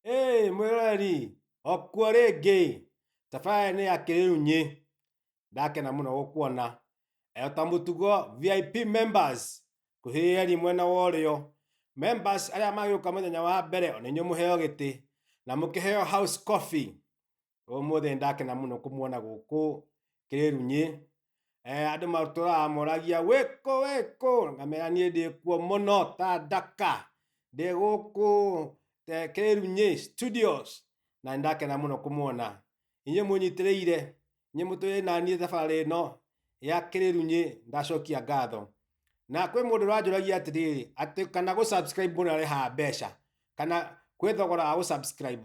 Hey, mwĩroreri okuo rĩngĩ tafaya nĩ ya kĩrĩunyi ndakena mũno gũkuona ta mũtugo vip members kuhĩyeni mwena wa ũrĩo members arĩa magĩũka mũthenya wa mbere onenyo mũheo gĩtĩ na mũkĩheo house coffee Ũmũthĩ nĩ ndakena mũno kũmuona gũkũ kĩrĩrunyĩ. Eh, andũ matũraga moragia wĩkũ wĩkũ, ngamera niĩ ndĩ kuo mũno ta ndaka, ndĩ gũkũ eh, kĩrĩrunyĩ studios, na nĩ ndakena mũno kũmuona inyuĩ mũnyitĩrĩire, inyuĩ mũtũrĩ na niĩ thabarĩ ĩno ya kĩrĩrunyĩ, ndacokia ngatho na kwĩ mũndũ ũranjũragia atĩrĩrĩ atĩ kana gũ subscribe mũndũ arĩhaga mbeca kana kwĩ thogora wa gũ subscribe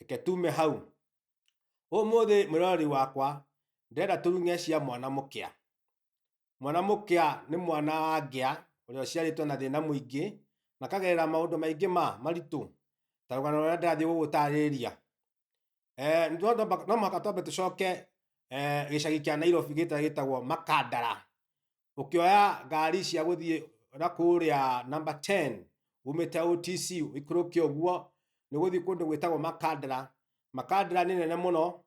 reke tume hau. Ũmũthĩ mwĩroreri wakwa, ndĩrenda tũruge cia mwana mũkĩa. Mwana mũkĩa nĩ mwana wa ngĩa ũrĩa ũciarĩtwo na thĩna mũingĩ na akagerera maũndũ maingĩ ma maritũ ta rũgano rũrĩa ndĩrathiĩ gũgũtarĩria. No mũhaka twambe tũcoke gĩcagi kĩa Nairobi gĩtagwo Makandara. ukioya ngari cia guthie na kuria number 10 umite OTC ikuruke uguo ni guthie kundu gwitagwo Makandara Makandara ni nene muno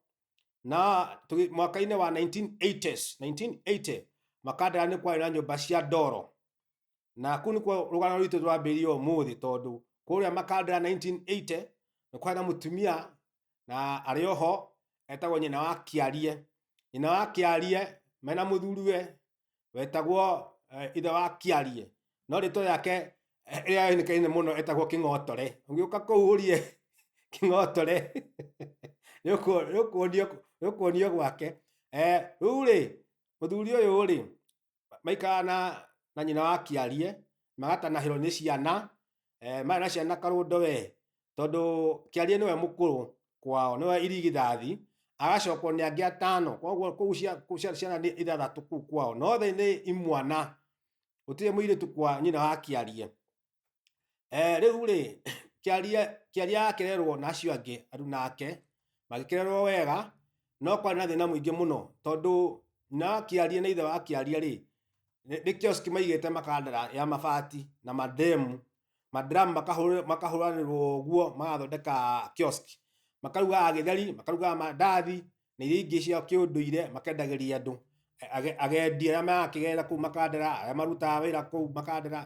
na tugi- mwaka-inĩ wa 1980s 1980 Makandara ni kwari na nyumba cia ndoro na kuu nikuo rugano rwitũ rwambĩrĩirie ũmũthĩ tondũ kũrĩa Makandara 1980 nĩ kwarĩ na mũtumia na arĩ oho etagwo nyina wa Kĩarie. Nyina wa Kĩarie mena mũthuriwe wetagwo eh, ithe wa Kĩarie. No rĩtwa yake eh, ĩrĩa yonekaine mũno etagwo Kĩng'otore. Ũngĩũka kũu ũrie Kĩng'otore nĩũkuonio gwake. Eh, Rĩu rĩ, mũthuri ũyũ rĩ, maikara na na nyina wa kiarie magatanahĩrwo nĩ ciana eh, maya na ciana karũndo we tondũ kiarie nĩwe mũkũrũ kwao nĩwe irigithathi agacokwo nĩ angĩ atano koguo kũu cia- kũu cia- ciana nĩ ithathatũ kũu kwao nothe nĩ imwana gũtirĩ mũirĩtu kwa nyina wa kiarie eh, rĩu rĩ kĩaria kĩaria akĩrerwo na acio angĩ aruna ake magĩkĩrerwo wega no kwarĩ na thĩna mũingĩ mũno tondũ na kĩaria na ithe wa kĩaria rĩ nĩ nĩ kioski maigĩte makandara ya mabati na mademu madram makahũrĩ- makahũranĩrwo ũguo magathondeka kioski makarugaga gĩtheri makarugaga mandathi na iria ingĩ cia kĩũndũire makendagĩria andũ. Agendi arĩa marakĩgerera kũu makandera, arĩa marutaga wĩra kũu makandera,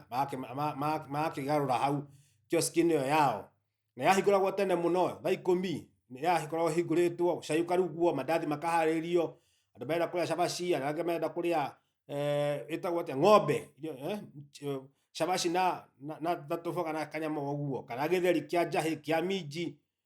magakĩgarũra hau kiosk -inĩ ĩyo yao. Na yahingũragwo tene mũno, thaa ikũmi, nĩ yagĩkoragwo ĩhingũrĩtwo, cai ũkarugwo, mandathi makaharĩrio, andũ marenda kũrĩa cabaci, arĩa angĩ marenda kũrĩa ĩtagwo atĩa, ng'ombe, cabaci na tũboga na kanyama o ũguo, kana gĩtheri kĩa njahĩ, kĩa minji,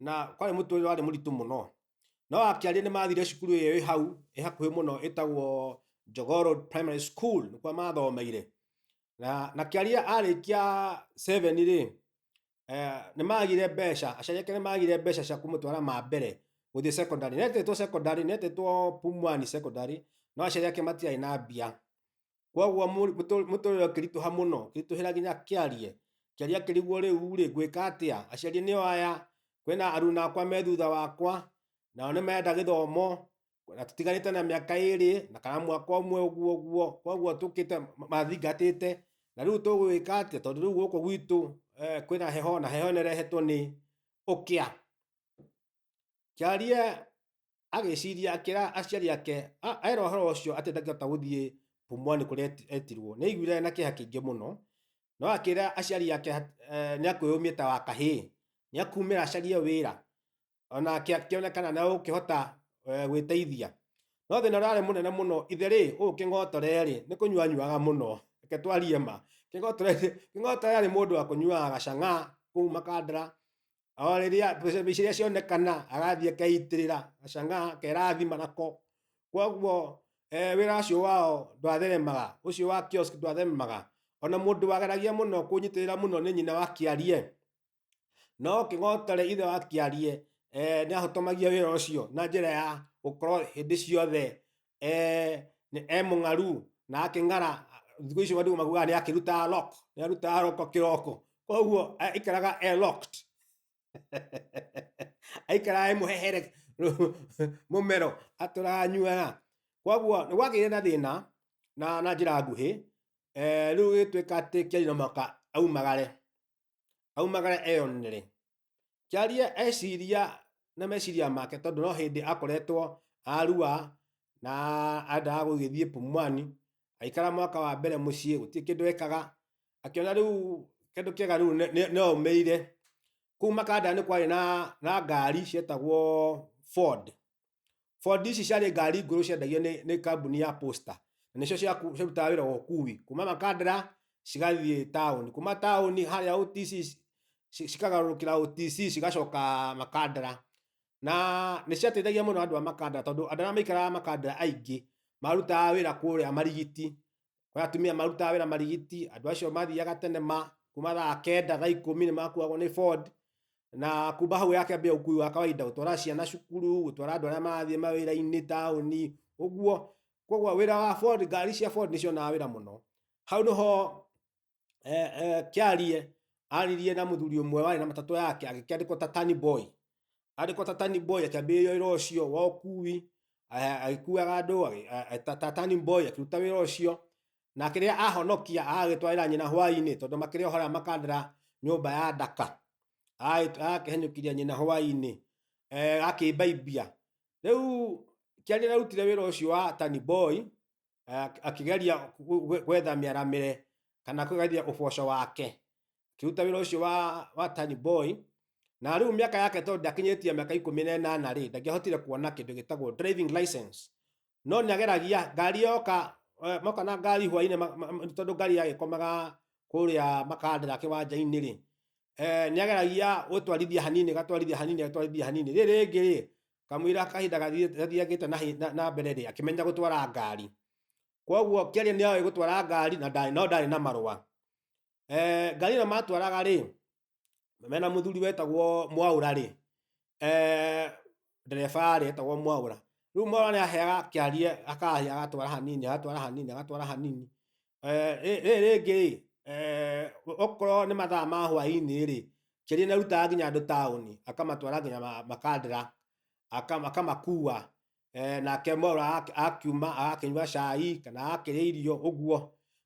na kwarĩ mũtũrĩre warĩ mũritũ mũno no akĩaria nĩ mathire cukuru ĩyo ĩ hau ĩ hakuhĩ mũno ĩtagwo Jogoo Road Primary School nĩkuo mathomeire na na kĩaria arĩkia 7 rĩ eh, nĩ magire mbeca aciari ake nĩ magire mbeca cia kũmũtwara ma mbere gũthiĩ secondary netetwo secondary netetwo Pumwani secondary no aciari ake matiarĩ na mbia kwoguo mũri- mũtũ- mũtũrĩre ũkĩritũha mũno ũkĩritũhĩra nginya kĩarie kĩarie akĩrigwo rĩu rĩ ngwĩka atĩa aciari nĩo aya kwĩna aruna akwa me thutha wakwa nao nĩ marenda gĩthomo na tũtiganĩte na mĩaka ĩrĩ na kana mwaka ũmwe ũguo ũguo kwoguo tũkĩte ma- mathingatĩte na rĩu tũgwĩka atĩa tondũ rĩu gũkũ gwitũ eh, kwĩna heho na heho nĩrehetwo nĩ ũkĩa kĩarie agĩciria akĩra aciari ake a- era ũhoro ũcio atĩ ndangĩhota gũthiĩ pumwani kũrĩa eti- etirwo nĩ aiguire na kĩeha kĩingĩ mũno no akĩra aciari ake hat- eh, nĩ akwĩyũmia ta wa kahĩĩ nĩ akumĩra acarie wĩra ona akĩ- akĩona kana na ũkĩhota eh, gwĩteithia no thĩna ũrarĩ mũnene mũno ithe rĩ ũũ kĩng'otore rĩ nĩ kũnyuanyuaga mũno reke twarie ma kĩng'otore kĩng'otore arĩ mũndũ wa kũnyuaga gacang'a kũu makandara o riria mbeca iria cionekana agathiĩ akeitĩrĩra acangaa akerathima nako kwoguo eh, wĩra ũcio wao ndwatheremaga ũcio wa kiosk ndwatheremaga ona mũndũ wageragia mũno kũnyitĩrĩra mũno nĩ nyina wa kĩarie no kĩng'otore ithe wa kĩarie eh, nĩ ahotomagia wĩra ũcio na njĩra ya gũkorwo hĩndĩ ciothe eh nĩ e mũng'aru na akĩng'ara thikũ icio andũ maguaga nĩ akĩrutaga lock nĩ arutaga roko kĩroko koguo eh, aikaraga e locked aikaraga e mũhehere mũmero atũraga nyuaga koguo nĩ gwagĩire na thĩna na na njĩra nguhĩ eh, rĩu gĩtuĩka atĩ kĩarĩ na mwaka aumagare aumagare eyonere kĩarie eciria na meciria make tondũ no hĩndĩ akoretwo arua na endaga gũgĩthiĩ pumwani aikara mwaka wa mbere mũciĩ gũtirĩ kĩndũ ekaga akĩona rĩu kĩndũ kĩega rĩu nĩ- nĩ- nĩ aumĩire kuma kandara nĩ kwarĩ na, na ngari cietagwo ford bondi ici ciarĩ ngari ngũrũ ciendagio nĩ, nĩ kambuni ya posta na nĩcio ciaku- cirutaga wĩra wa ũkui kuma makandara cigathiĩ taũni kuma taũni harĩa OTC ci- ci- cikagarũrũkĩra OTC cigacoka makandara na nĩ ciateithagia mũno andũ a makandara tondũ andũ arĩa maikaraga makandara aingĩ marutaga wĩra kũrĩa marigiti kwa atumia marutaga wĩra marigiti andũ acio mathiaga tene ma kuma thaa kenda thaa ikũmi nĩ makuagwo nĩ board na kuma hau yakambia ũkui wa kawaida gũtwara ciana cukuru gũtwara andũ arĩa marathiĩ mawĩra-inĩ taũni ũguo koguo wĩra wa board ngari cia board nĩ cionaga wĩra mũno hau nĩho eh, eh, kĩarie aririe na mũthuri ũmwe warĩ na matatũ yake agĩkĩandĩkwo ta tani boy andĩkwo ta tani boy akĩambĩrĩria wĩra ũcio wa ũkui eh, agĩkuaga andũ agĩ- a- a- ta- ta tani boy akĩruta wĩra ũcio na kĩrĩa ahonokia agagĩtwarĩra nyina hwainĩ tondũ makĩrĩ ohora makandĩra nyũmba ya ndaka agakĩhenyũkiria nyina hwainĩ eh, akĩmbaibia rĩu kĩarĩ arutire wĩra ũcio wa tani boy eh, akigeria gwetha mĩaramĩre kana kũgeria ũboco wake kiruta wĩra ũcio wa, wa tani boy na rĩu mĩaka yake tondũ ndakinyĩtie mĩaka ikũmi na ĩnana rĩ ndangĩahotire kuona kĩndũ gĩtagwo driving license no nĩ ageragia ngari yoka eh, moka na ngari hwainĩ tondũ ngari yagĩkomaga kũrĩa makandĩra kĩwanja-inĩ rĩ eh, nĩ ageragia gũtwarithia hanini gatwarithia hanini gatwarithia hanini rĩ rĩngĩ rĩ kamũira kahinda gathiĩ- gathiangĩte na hi- na- na mbere rĩ akĩmenya gũtwara ngari kwoguo kĩaria nĩ oĩ gũtwara ngari na ndarĩ no ndarĩ na marũa Eh, ngari ĩno matwaraga rĩ mena mũthuri wetagwo mwaũra rĩ eh, ndereba rĩ etagwo mwaũra rĩu mwaũra nĩ aheaga kĩarie akahia agatwara hanini agatwara hanini agatwara hanini Eh, rĩrĩ rĩngĩ-rĩ, eh, okorwo nĩ mathaa ma hwainĩ-rĩ, Njeri nĩarutaga nginya andũ taũni, akamatwara nginya makandĩra, akamakua, eh, nake mwerũ akiuma agakĩnyua cai, kana agakĩrĩa irio ũguo,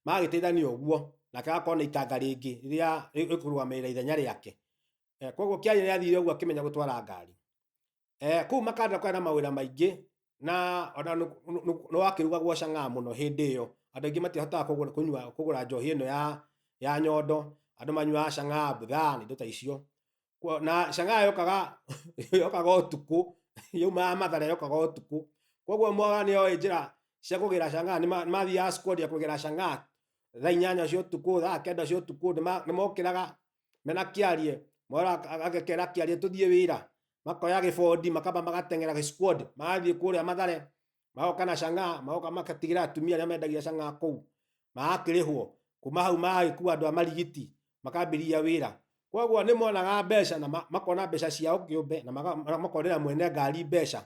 magagĩteithania ũguo, nake agakorwo na itanga rĩngĩ rĩrĩa rĩkũrũgamĩrĩra ithenya rĩake. Kuoguo Kiarĩ nĩathiire ũguo akĩmenya gũtwara ngari. Eh, kuu makanda kwa na mawira maingi na ona no wakirugagwo canga muno hindi iyo andu aingi matihotaga kugura kunywa kugura njohi ino ya ya nyondo andu manyuaga canga budhaa na indo ta icio na canga yokaga yokaga utuku yaumaga mathare yokaga utuku koguo mwaga nioe njira cia kugira canga nimathiaga kugeria kugira canga thaa inyanya cia utuku thaa kenda cia utuku nimokiraga me nakiarie, moro aka aka agekera akiarie todie ewira, makoya gefodi makaba magateng'era gesquad, magathiĩ kũrĩa mathare, magoka na chang'aa, magoka magatigera atumia arĩa mendagia chang'aa kũu, magakĩrĩhwo, kuma hau magagĩkua andũ a marigiti, makambĩrĩria wĩra. Koguo nĩmonaga mbeca na ma makona mbeca ciao kĩũmbe na maga makonera mwene ngari mbeca,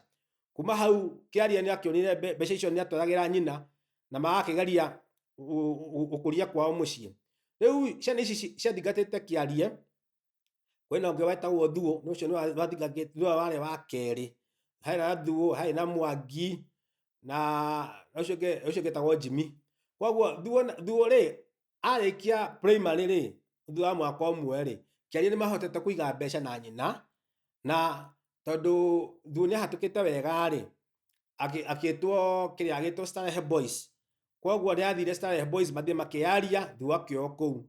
kuma hau kiaria ni akionire mbe- mbeca icio ni atwaragira nyina na magakigeria gukuria kwao mucii riu ciana ici ci- ciathingatite kiarie kwina ungi wetagwo thuo ni ucio niwe wari wa keri hari na thuo hari na mwangi na na ucio ungi ucio ungi etagwo jimi koguo thuo na- thuo ri arĩkia primary rĩ thutha wa mwaka ũmwe rĩ kiaria nĩ mahotete kũiga mbeca na nyina na tondũ thu nĩ ahatũkĩte wega rĩ akĩ- akĩtwo kĩrĩa agĩtwo Starehe Boys kwoguo nĩ athire Starehe Boys mathiĩ makĩyaria thu akĩo kũu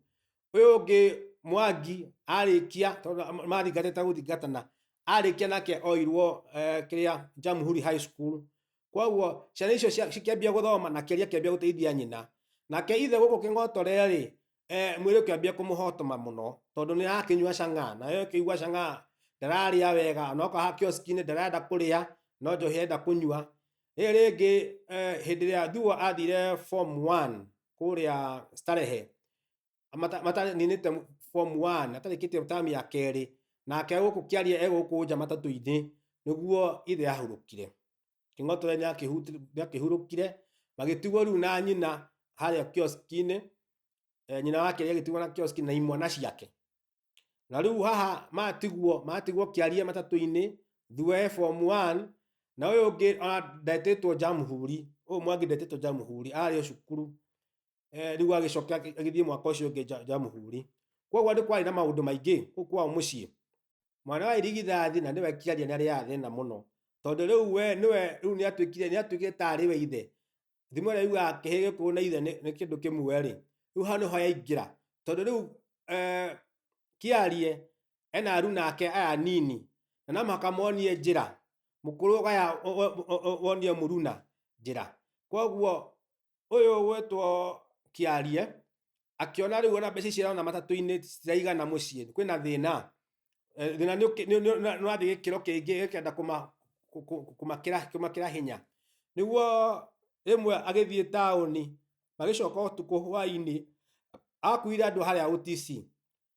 ũyũ ũngĩ mwangi arĩkia tondũ ma- mathingatĩte gũthingatana arĩkia nake oirwo eh, kĩrĩa Jamhuri High School koguo ciana icio cia- cikĩambia gũthoma na kĩria kĩambia gũteithia nyina nake ithe gũkũ kĩng'otore-rĩ eh, mwĩrĩ ũkĩambia kũmũhotoma mũno tondũ nĩ arakĩnyua cang'aa nayo ĩkĩigua cang'aa ndararĩa wega onoka ha kioski-inĩ ndarenda kũrĩa no njohi enda kũnyua rĩrĩ rĩngĩ eh, hĩndĩ ĩrĩa thuo athire form 1 kũrĩa starehe Mata- mata- ninĩte form one atarĩkĩtie tamu ya kerĩ nake gũkũ kĩaria e gũkũ nja matatũ-inĩ nĩguo ithe ahurũkire kĩng'oto we nĩakĩhuti- nĩakĩhurũkire magĩtigwo rĩu na nyina harĩa kioski-inĩ eh, nyina wake agĩtigwo na kioski na imwana ciake na rĩu haha matigwo matigwo kĩaria matatũ-inĩ thua e form one na ũyũ ũngĩ ona ndetĩtwo njamuhuri ũyũ mwangi ndetĩtwo njamuhuri arĩ o cukuru eh, rĩu agĩcoka agĩ- agĩthiĩ mwaka ũcio ũngĩ Ja- jamuhuri koguo nĩ kwarĩ na maũndũ maingĩ kũu kwao mũciĩ mwana wa irigithathi na nĩwe kiaria nĩ arĩ ya thĩna mũno tondũ rĩu we nĩwe rĩu nĩ atuĩkire nĩ atuĩkire ta arĩ we ithe thimo ĩrĩa yugaga kĩhĩ gĩkũũ na ithe nĩ nĩ kĩndũ kĩmwe rĩ rĩu hau nĩho yaingĩra tondũ rĩu eh, kiarie ena aru nake aya nini na no mũhaka monie njĩra mũkũrũ ũgaya o- o- o- o- wonie mũruna njĩra koguo ũyũ ũgwĩtwo kĩarie akĩona rĩu ona mbeca icio arona matatũ-inĩ citiraigana mũciĩ kwĩna thĩna Eh, thĩna nĩ ũkĩ- nĩ- nĩ- nĩ- nĩrathiĩ gĩkĩro kĩngĩ gĩkenda kũma- kũ- kũ- kũmakĩra kũmakĩra hinya nĩguo rĩmwe agĩthiĩ taũni magĩcoka ũtukũ hwainĩ akuire andũ harĩa ũtici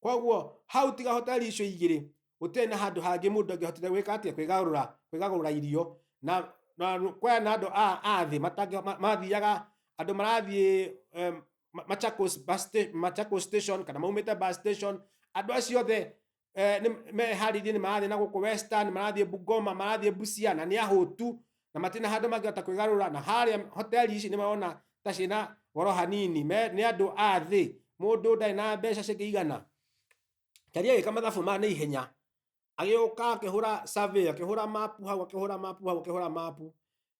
koguo hau tiga hoteli icio igĩrĩ gũtirĩ na handũ hangĩ mũndũ angĩhotire gwĩka atĩa kwĩgarũra kwĩgagũra irio na na kwaya na andũ a a thĩ matangĩ- ma- mathiaga andũ marathiĩ em, Ma- Machakos bus sta- Machakos station kana maumĩte bus station andũ acio othe eh, nĩ- meharĩirie nĩ marathiĩ na gũkũ western marathiĩ bungoma marathiĩ busia na nĩ ahũtu na matirĩ na handũ mangĩhota kwĩgarũra na harĩa hoteli ici nĩ marona ta ciĩ na goro hanini me nĩ andũ a thĩ mũndũ ndarĩ na mbeca cingĩigana Tari agĩka mathabu ma na ihenya agĩũka akĩhũra survey akĩhũra mapu hau akĩhũra mapu hau akĩhũra mapu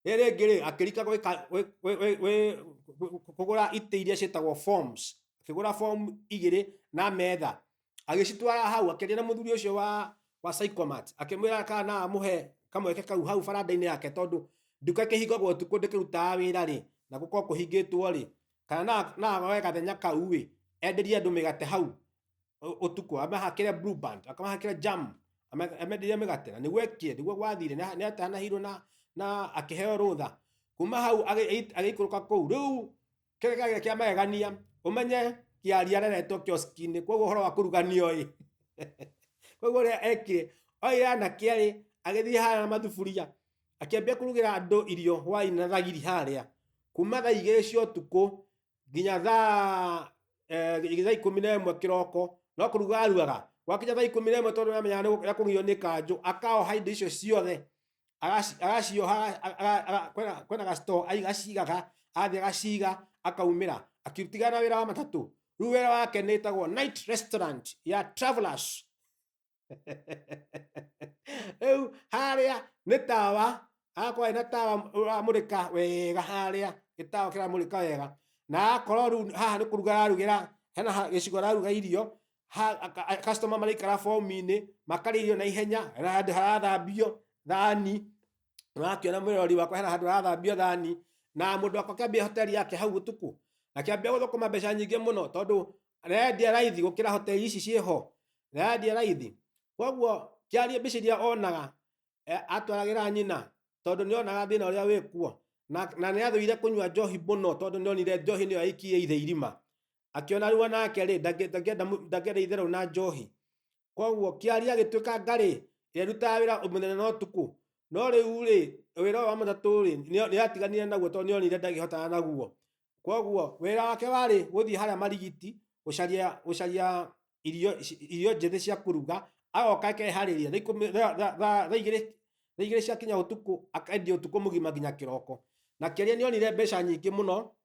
rĩrĩ rĩngĩ rĩ akĩrika gwĩka- gwĩ- gwĩ- gwĩ- gwĩ- gwĩ- kũgũra itĩ iria ciĩtagwo forms akĩgũra form igĩrĩ na metha agĩcitwara hau akĩaria na mũthuri ũcio wa wa psychomat akĩmwĩra kana amũhe kamweke kau hau baranda-inĩ yake tondũ nduka ĩkĩhingagwo ũtukũ ndĩkĩrutaga wĩra rĩ na gũkorwo kũhingĩtwo rĩ kana na- na agoe gathenya kau ĩ enderie andũ mĩgate hau ũ- ũtukũ amahakĩre blue band akamahakĩre jam ame- amenderie mĩgate na nĩguo ekire nĩguo gwathire na- nĩ atanahirwo na na akĩheo rũtha kuma hau agĩ- agĩikũrũka kũu rĩu kĩrĩa kĩagĩrĩ kĩa magegania ũmenye kĩaria areretwo kioski-inĩ koguo ũhoro wa kũruganio ĩ koguo ũrĩa ekire oire anake erĩ agĩthiĩ harĩa na mathuburia akĩambia kũrugĩra andũ irio hwainĩ na thagiri harĩa kuma thaa igĩrĩ cia ũtukũ nginya thaa eh, thaa ikũmi na ĩmwe kĩroko no kũruga arugaga gwakinya thaa ikũmi na ĩmwe tondũ nĩamenyaga nĩ gũkũgio nĩ kanjũ akaoha indo icio ciothe agaciyoha kwena gasito agacigaga athiĩ agaciga akaumĩra akitigana wĩra wa matatũ rĩu wĩra wake nĩ ĩtagwo night restaurant ya travelers rĩu harĩa nĩ tawa akorwo na tawa ũramũrĩka wega harĩa gĩtawa kĩramũrĩka wega na akorwo rĩu haha nĩ kũruga ararugĩra hena gĩcigo araruga irio ha- aka- a- customer maraikara fomu-inĩ makarĩa irio na ihenya hena handũ harathambio thani ũrakĩona mũrori wakwa hena handũ harathambio thani na mũndũ wakwa akĩambia hoteli yake hau ũtukũ akĩambia gũthũkũma mbeca nyingĩ mũno tondũ arendia raithi gũkĩra hoteli ici ciĩ ho arendia raithi koguo kĩarie mbica iria onaga eh, atwaragĩra nyina tondũ nĩ onaga thĩna ũrĩa wĩ kuo na, na nĩ athũire kũnyua njohi mũno tondũ nĩ onire njohi nĩyo aikie ithe irima akĩona rĩu nake rĩ ndangĩ- ndangĩenda mũ- ndangĩenda itherũ na njohi koguo kĩaria agĩtuĩka ngarĩ ĩrĩa ĩrutaga wĩra mũthenya na ũtukũ no rĩu rĩ wĩra ũyũ wa matatũ rĩ nĩ- nĩratiganire naguo tondũ nĩonire ndangĩhotana naguo koguo wĩra wake warĩ gũthiĩ harĩa marigiti gũcaria gũcaria irio ici- irio njĩthĩ cia kũruga agoka akeharĩria thaa ikũmi- thaa- thaa- thaa- thaa igĩrĩ thaa igĩrĩ ciakinya ũtukũ akendia ũtukũ mũgima nginya kĩroko na kĩrĩa nĩonire mbeca nyingĩ mũno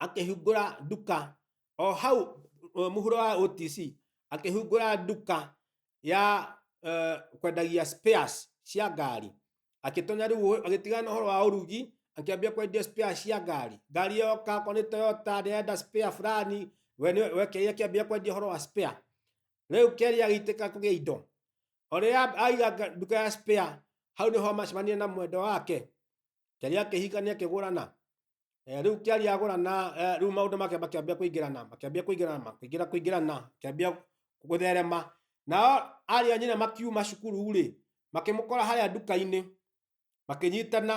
akĩhingũra nduka o hau uh, mũhuro wa OTC akĩhingũra nduka ya uh, kwendagia spares cia ngari akĩtonya rĩu agĩtigana na ũhoro wa ũrugi akĩambia kwendia spare cia ngari ngari yoka okorwo nĩ Toyota ndĩrenda spare fulani we nĩ- we Keri akĩambia kwendia ũhoro wa spare rĩu Keri agĩitĩka kũgĩa indo ũrĩa aiga nga- nduka ya spare hau nĩho macemania na mwendwa wake Keri akĩhikania akĩgũrana Eh, rĩu kĩari agũrana eh, rĩu maũndũ make makĩambia kũingĩrana makĩambia kũingĩrana makĩingĩra kũingĩrana makĩambia gũtherema nao ariũ a nyina makiuma cukuru rĩ makĩmũkora harĩa nduka-inĩ makĩnyitana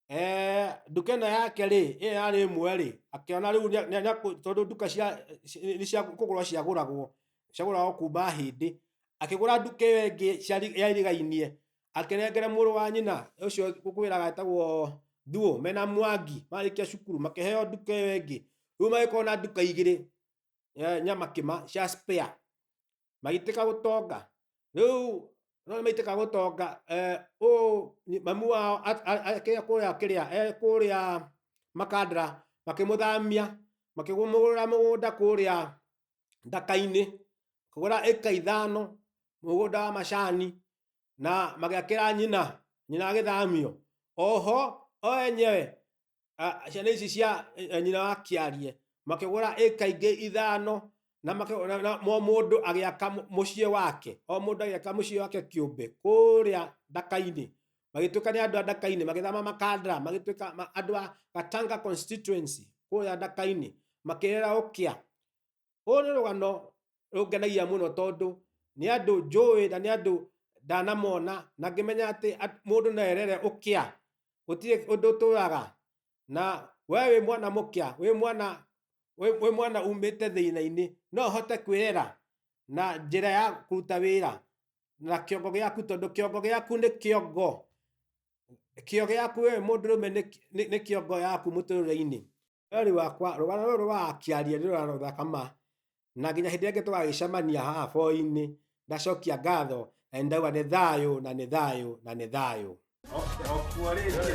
eh, nduka ĩno yake rĩ ĩyo yarĩ ĩmwe rĩ akĩona rĩu nĩ- nĩ- nĩ- tondũ nduka cia ci- nĩ cia kũgũrwo ciagũragwo ciagũragwo kuma hĩndĩ akĩgũra nduka ĩyo ĩngĩ ciarĩ- yairigainie akĩnengere mũrũ wa nyina ũcio ngũkwĩraga etagwo Thuo mena Mwangi marĩkia cukuru makĩheo nduka ĩyo ĩngĩ. Rĩu magĩkorwo na nduka igĩrĩ eh, nyama kĩma cia spare magĩtĩka gũtonga. Rĩu no nĩmaitĩka gũtonga eh, ũũ nĩ- mamu wao a- a- a- kĩrĩa kũrĩa kĩrĩa eh, kũrĩa makandara makĩmũthamia makĩmũgũrĩra mũgũnda kũrĩa ndaka-inĩ kũgũra ĩka ithano mũgũnda wa macani na magĩakĩra nyina nyina agĩthamio oho o enyewe ah, ciana ici cia eh, nyina wa kĩarie makĩgũra ĩka ingĩ ithano na makĩ- na- na- mo mũndũ agĩaka mũ- mũciĩ wake o mũndũ agĩaka mũciĩ wake kĩũmbe kũrĩa ndaka-inĩ magĩtuĩka nĩ andũ a ndaka-inĩ magĩthama makandara magĩtuĩka ma- andũ a gatanga constituency kũrĩa ndaka-inĩ makĩrera ũkĩa Rũrũ nĩ rũgano rũngenagia mũno tondũ nĩ andũ njũĩ na nĩ andũ ndanamona na ngĩmenya atĩ at- mũndũ no erere ũkĩa. Gũtirĩ ũndũ ũtũraga. Na we wĩ mwana mũkĩa, wĩ mwana wĩ wĩ mwana umĩte thĩna-inĩ, no ũhote kwĩrera na njĩra ya kũruta wĩra na kĩongo gĩaku tondũ kĩongo gĩaku nĩ kĩongo. Kĩo gĩaku we mũndũrũme nĩ nĩ nĩ kĩongo yaku mũtũrĩre-inĩ. Wee wakwa rũgano rũrũ rũrakĩaria nĩ rũgano rũthaka ma na nginya hĩndĩ ĩrĩa ĩngĩ tũgagĩcemania haha boinĩ ndacokia ngatho na nĩ ndauga nĩ thayũ na nĩ thayũ na nĩ thayũ Okuo rĩngĩ.